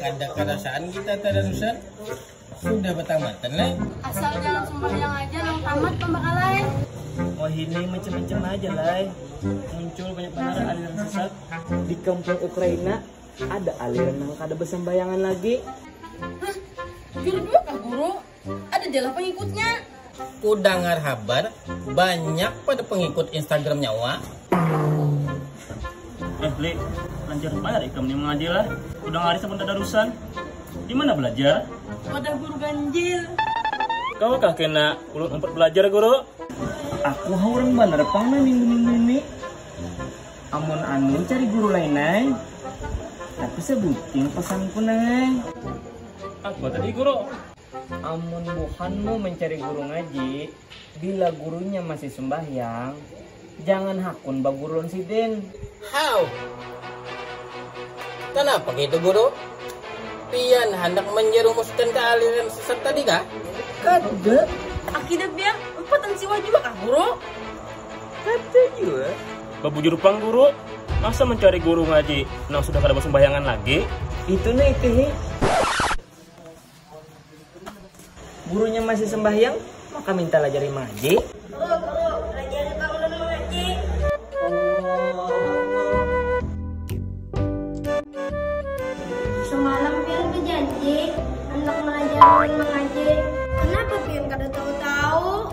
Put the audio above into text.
Kada karasaan kita tararusan sudah batamatan leh. Asal jangan sumbahyang aja nang tamat pambakalae. Wahini mencem-mencem haja lai. Muncul banyak banar aliran sesat. Di kampung Ukraina ada aliran nang kada basambayangan lagi. Hah, jujur jua kah Guru? Ada jalah pengikutnya. Ku dangar habar banyak pada pengikut Instagramnya wak. Eh Li, lancar banar ikam nih mengaji lah. Ku dangar hari sabun tadarusan. Di mana belajar? Wadah guru ganjil. Kau kah kena ulun umpet belajar guru? Aku ha urang banar pang nah minggu-minggu ini. Amun anu cari guru lain ai. Tapi sabuting pesanku nang ai. Apa tadi guru? Amun buhanmu mencari guru ngaji, bila gurunya masih sembahyang, jangan hakun baguru lawan sidin. How! Kanapa kaitu guru? Pian handak manjarumuskan kaaliran sesat tadi kah? Kada, akidah pian umpat ansiwah jua kah guru? Kada jua. Babujur pang guru, masa mencari guru ngaji nang sudah kada basumbayangan lagi? Itu ne itu hi. Gurunya masih sembahyang, maka minta lajari mangaji. Guru, guru, lajari pang ulun mangaji. Semalam pian bejanji handak melajari ulun mangaji, kenapa pian kada tahu-tahu?